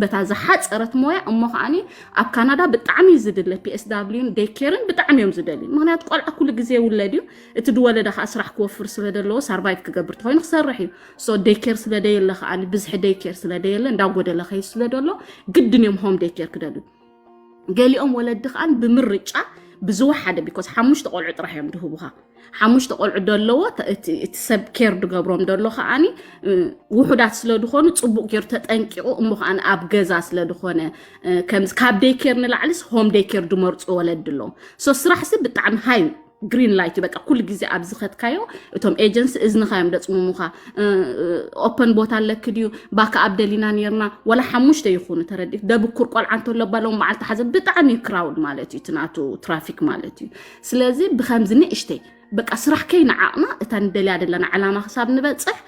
በታ ዝሓፀረት ሞያ እሞ ከዓ ኣብ ካናዳ ብጣዕሚ እዩ ዝድለ ፒኤስዳብሊዩን ደይኬርን ብጣዕሚ እዮም ዝደልዩ ምክንያቱ ቆልዓ ኩሉ ግዜ ውለድ እዩ እቲ ድወለደ ከዓ ስራሕ ክወፍር ስለ ዘለዎ ሳርቫይቭ ክገብር ተኮይኑ ክሰርሕ እዩ ሶ ደይኬር ስለ ደየለ ከዓ ብዝሒ ደይኬር ስለ ደየለ እንዳጎደለ ከይ ስለ ደሎ ግድን እዮም ሆም ደይኬር ክደልዩ ገሊኦም ወለዲ ከዓ ብምርጫ ብዝወሓደ ቢኮዝ ሓሙሽተ ቆልዑ ጥራሕ እዮም ድህቡኻ ሓሙሽተ ቆልዑ ደለዎ እቲ ሰብ ኬር ድገብሮም ደሎ ከዓኒ ውሑዳት ስለ ድኾኑ ፅቡቅ ጌሩ ተጠንቂቑ እሞ ከዓ ኣብ ገዛ ስለ ድኾነ ካብ ደይ ኬር ንላዕሊስ ሆም ደይ ኬር ድመርፁ ወለዲ ኣለዎም ሶ ስራሕሲ ብጣዕሚ ሃይ ግሪን ላይት እዩ በቃ ኩሉ ግዜ ኣብ ዝኸድካዮ እቶም ኤጀንሲ እዝንኻ እዮም ደፅሙሙኻ ኦፐን ቦታ ኣለኪ ድዩ ባካ ኣብ ደሊና ነርና ወላ ሓሙሽተ ይኹኑ ተረዲ ደብኩር ቆልዓ እንተሎ ባሎም መዓልቲ ሓዘ ብጣዕሚ እዩ ክራውድ ማለት እዩ ትናቱ ትራፊክ ማለት እዩ ስለዚ ብከምዚ ንእሽተይ በቃ ስራሕ ከይንዓቕና እታ ንደልያ ዘለና ዕላማ ክሳብ ንበፅሕ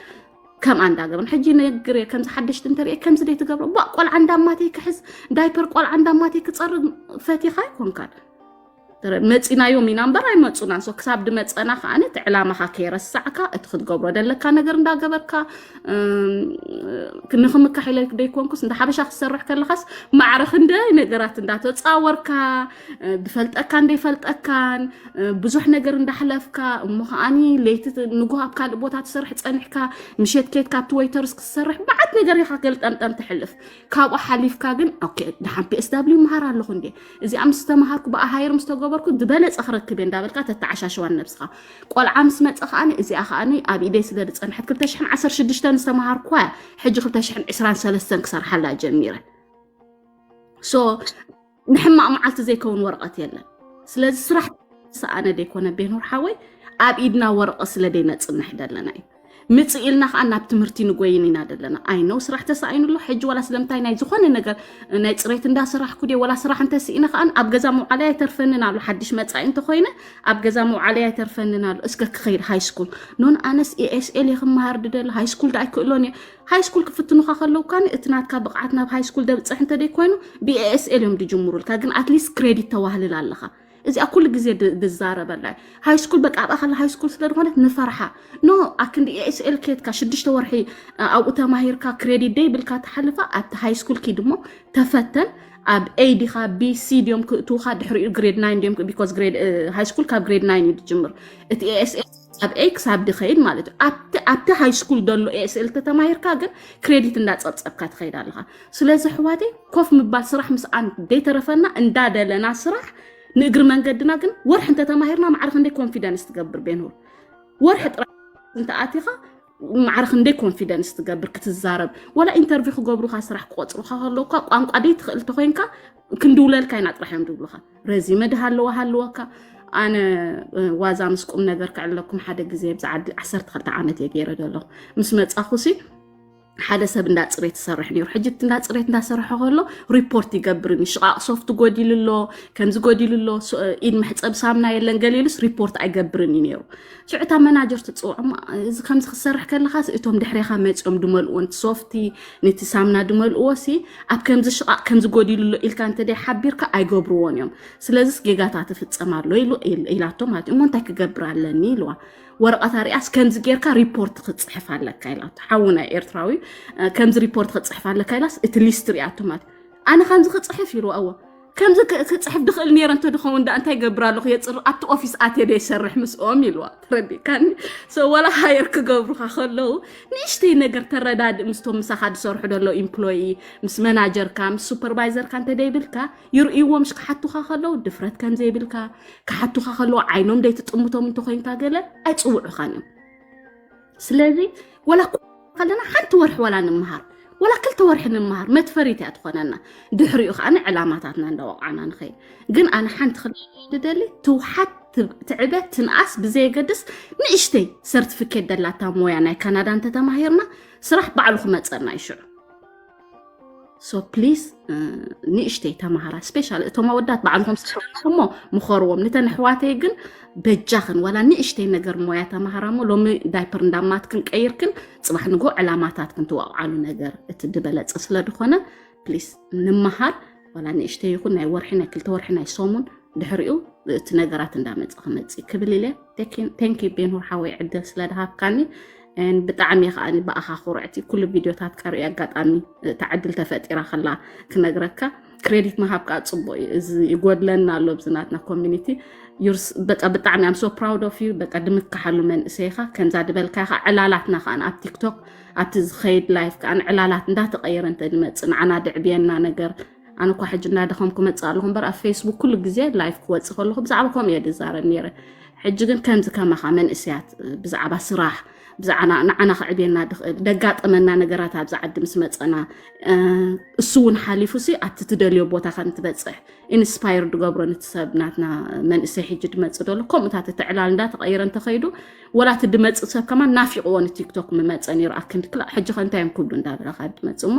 ከምኣ እንዳገብርን ሕጂ ነግር እየ ከምዚ ሓደሽቲ እንተሪአ ከምዚ ደይ ትገብሮ ባ ቆልዓ እንዳማተይ ክሕዝ ዳይፐር ቆልዓ እንዳማተይ ክፀርግ ፈቲኻ ኣይኮንካን መፂናዮም ኢና እምበር ኣይመፁናን ሶ ክሳብ ድመፀና ከዓ እቲ ዕላማካ ከይረሳዕካ እቲ ክትገብሮ ደለካ ነገር እንዳገበርካ ንክምካሕ ኢለ ደይኮንኩስ እንዳ ሓበሻ ክትሰርሕ ከለካስ ማዕረ ክንደይ ነገራት እንዳተፃወርካ ዝፈልጠካ እንደይፈልጠካን ብዙሕ ነገር እንዳሕለፍካ እሞ ከዓኒ ለይቲ ንጉህ ኣብ ካልእ ቦታ ትሰርሕ ፀኒሕካ ምሸት ኬትካ ኣብቲ ወይተርስ ክትሰርሕ በዓት ነገር ኢካ ገልጠምጠም ትሕልፍ ካብኡ ሓሊፍካ ግን ኦኬ ድሓን ፒኤስ ዳብሊው መሃር ኣለኹ እንዴ እዚኣ ምስ ተምሃርኩ ብኣ ሃይር ምስ ተገበርኩ ዝበለፀ ክረክብ እየ እንዳበልካ ተተዓሻሸዋ ንነብስኻ ቆልዓ ምስ መፀ ከዓኒ እዚኣ ከዓኒ ኣብ ኢደይ ስለ ዝፀንሐት 216 ዝተምሃርኩዋ እያ ሕጂ 223 ክሰርሓላ ጀሚረ ሶ ንሕማቕ መዓልቲ ዘይከውን ወረቐት የለን ስለዚ ስራሕ ሰኣነ ዘይኮነ ቤኖር ሓወይ ኣብ ኢድና ወረቐት ስለ ዘይነፅንሕ ዘለና እዩ ምጽእ ኢልና ከዓ ናብ ትምህርቲ ንጎይን ኢና ዘለና ኣይነው ስራሕ ተሳኢኑ ኣሎ ሕጂ ዋላ ስለምንታይ ናይ ዝኾነ ነገር ናይ ፅሬት እንዳሰራሕኩ ድየ ዋላ ስራሕ እንተስኢነ ከዓ ኣብ ገዛ መውዓለይ ኣይተርፈንን ኣሎ ሓድሽ መፃኢ እንተኮይነ ኣብ ገዛ መውዓለይ ኣይተርፈንን ኣሎ እስከ ክኸይድ ሃይስኩል ኖን ኣነስ ኤስኤል እየ ክመሃር ድደሊ ሃይስኩል ዳ ኣይክእሎን እየ ሃይስኩል ክፍትኑካ ከለውካ እቲ ናትካ ብቕዓት ናብ ሃይስኩል ደብፅሕ እንተደይ ኮይኑ ብኤስኤል እዮም ድጅምሩልካ ግን ኣትሊስት ክሬዲት ተዋህልል ኣለካ እዚኣ ኩሉ ግዜ ድዛረበላ ሃይስኩል በቃ ኣብኣ ከላ ሃይስኩል ስለ ዝኾነት ንፈርሓ ኖ ኣክንዲ ኤስኤል ኬትካ ሽዱሽተ ወርሒ ኣብኡ ተማሂርካ ክሬዲት ደይ ብልካ ትሓልፋ ኣብቲ ሃይስኩል ኪድ እሞ ተፈተን ኣብ ኤ ዲኻ ቢ ሲ ድዮም ክእትውካ ድሕሪኡ ግሬድ ናይን ድዮም ቢኮዝ ሃይስኩል ካብ ግሬድ ናይን እዩ ዝጅምር እቲ ኤስኤል ኣብ ኤክስ ኣብ ድኸይድ ማለት እዩ ኣብቲ ሃይ ስኩል ዘሎ ኤስኤል ተተማሂርካ ግን ክሬዲት እንዳፀብፀብካ ትኸይድ ኣለኻ ስለዚ ኣሕዋቴ ኮፍ ምባል ስራሕ ምስኣን ዘይተረፈና እንዳደለና ስራሕ ንእግሪ መንገድና ግን ወርሒ እንተተማሂርና ማዕረ ክንደይ ኮንፊደንስ ትገብር ቤንሁር ወርሒ ጥራሕ እንተኣቲኻ ማዕረ ክንደይ ኮንፊደንስ ትገብር ክትዛረብ ወላ ኢንተርቪው ክገብሩካ ስራሕ ክቆፅሩካ ከለውካ ቋንቋ ደይ ትኽእል እንተኮይንካ ክንድውለልካ ኢና ጥራሕ እዮም ዝብሉካ ረዚመ ድሃለዋ ሃለወካ ኣነ ዋዛ ምስ ቁም ነገር ክዕለኩም ሓደ ግዜ ብዛ ዓዲ 12 ዓመት እየ ገይረ ዘለኹ ምስ መፃኹሲ ሓደ ሰብ እንዳ ፅሬት ይሰርሕ ነይሩ ሕጂ እቲ እንዳ ፅሬት እንዳሰርሐ ከሎ ሪፖርት ይገብርኒ ሽቓቕ ሶፍት ጎዲሉ ኣሎ ከምዚ ጎዲሉ ኣሎ ኢድ መሕፀብ ሳምና የለን ገሊሉስ ሪፖርት ኣይገብርን እዩ ነይሩ ሽዑ እታ መናጀር ትፅውዖ እሞ እዚ ከምዚ ክትሰርሕ ከለካ እቶም ድሕሬካ መፅኦም ድመልእዎ ንቲ ሶፍቲ ንቲ ሳምና ድመልእዎ ሲ ኣብ ከምዚ ሽቓቕ ከምዚ ጎዲሉ ኣሎ ኢልካ እንተደይ ሓቢርካ ኣይገብርዎን እዮም ስለዚስ ጌጋታት ይፍፀም ኣሎ ኢላቶ ማለት እዩ እሞ እንታይ ክገብር ኣለኒ ኢልዋ ወረቐት ኣርያስ ከምዚ ጌርካ ሪፖርት ክፅሕፍ ኣለካ ኢላቶ ሓውና ኤርትራዊ ከምዚ ሪፖርት ክፅሕፍ ኣለካ ኢላስ እቲ ሊስት ሪኣቶ ማለት ኣነ ከምዚ ክፅሕፍ ኢልዋ እዎ ከምዚ ክፅሕፍ ድኽእል ነይረ እንተድኸውን ዳኣ እንታይ ገብር ኣለኹ የፅር ኣብቲ ኦፊስ ኣትየ ዶ ይሰርሕ ምስኦም ኢልዋ ተረዲእካኒ ሶ ዋላ ሃየር ክገብሩኻ ከለዉ ንእሽተይ ነገር ተረዳድእ ምስቶም ምሳኻ ዝሰርሑ ደሎ ኢምፕሎይ ምስ መናጀርካ ምስ ሱፐርቫይዘርካ እንተደይብልካ ይርእይዎም ሽ ክሓቱኻ ከለዉ ድፍረት ከም ዘይብልካ ክሓቱኻ ከለዉ ዓይኖም ደይትጥምቶም እንተኮይንካ ገለ ኣይፅውዑኻን እዮም ስለዚ ወላ ከለና ሓንቲ ወርሒ ወላ ንምሃር ወላ ክልተ ወርሒ ንምሃር መትፈሪት እያ ትኾነና ድሕሪኡ ከዓነ ዕላማታትና እንዳወቕዓና ንኸይድ ግን ኣነ ሓንቲ ክደሊ ትውሓት ትዕበ ትንኣስ ብዘየገድስ ንእሽተይ ሰርቲፊኬት ደላታ ሞያ ናይ ካናዳ እንተተማሂርና ስራሕ ባዕሉ ክመፀና ይሽዑ ሶ ፕሊዝ ንእሽተይ ተምሃራ ስፔሻል እቶም ኣወዳት በዓልቶም ስሞ ምኸርዎም ንተን ኣሕዋተይ ግን በጃኽን ዋላ ንእሽተይ ነገር ሞያ ተምሃራ እሞ ሎሚ ዳይፐር እንዳማትክን ቀይርክን ፅባሕ ንጎ ዕላማታትክን ትዋቕዓሉ ነገር እቲ ድበለፀ ስለ ድኾነ ፕሊዝ ንምሃር ዋላ ንእሽተይ ይኹን ናይ ወርሒ ናይ ክልተ ወርሒ ናይ ሰሙን ድሕሪኡ እቲ ነገራት እንዳመፀ ክመፅእ ክብል ኢለ ቴንኪ ቤንሁር ሓወይ ዕድል ስለ ድሃብካኒ ብጣዕሚ እየ ከዓ ብኣኻ ኩርዕቲ ኩሉ ቪድዮታት ቀርኢ ኣጋጣሚ እታ ዕድል ተፈጢራ ከላ ክነግረካ ክሬዲት ምሃብ ከዓ ፅቡቅ እዩ እዚ ይጎድለና ኣሎ ብዝናትና ኮሚኒቲ በቃ ብጣዕሚ ኣም ሶ ፕራውድ ኦፍ ዩ በቃ ድምካሓሉ መንእሰይካ ከምዛ ድበልካ ካ ዕላላትና ከዓ ኣብ ቲክቶክ ኣብቲ ዝኸይድ ላይፍ ከዓ ዕላላት እንዳተቀየረ እንተድመፅእ ንዓና ድዕብየና ነገር ኣነ እኳ ሕጂ እናደኸም ክመፅእ ኣለኹ እምበር ኣብ ፌስቡክ ኩሉ ግዜ ላይፍ ክወፅእ ከለኹ ብዛዕባ ከምኡ እየ ዝዛረብ ነይረ ሕጂ ግን ከምዚ ከማኻ መንእስያት ብዛዕባ ስራሕ ብዛዕባ ንዓና ክዕብየና ድኽእል ደጋጠመና ነገራት ኣብዚ ዓዲ ምስ መፀና እሱ እውን ሓሊፉ ሲ ኣብቲ ትደልዮ ቦታ ከም ትበፅሕ ኢንስፓየር ድገብሮ ንቲ ሰብ ናትና መንእሰይ ሕጂ ድመፅእ ደሎ ከምኡታት እቲ ዕላል እንዳተቐይረ እንተኸይዱ ወላ እቲ ድመፅእ ሰብ ከማ ናፊቕዎ ንቲክቶክ ምመፀ ነይሩ ኣክንዲ ክላ ሕጂ ከ እንታይ እዮም ክብሉ እንዳበለ ካብ ድመፅእ እሞ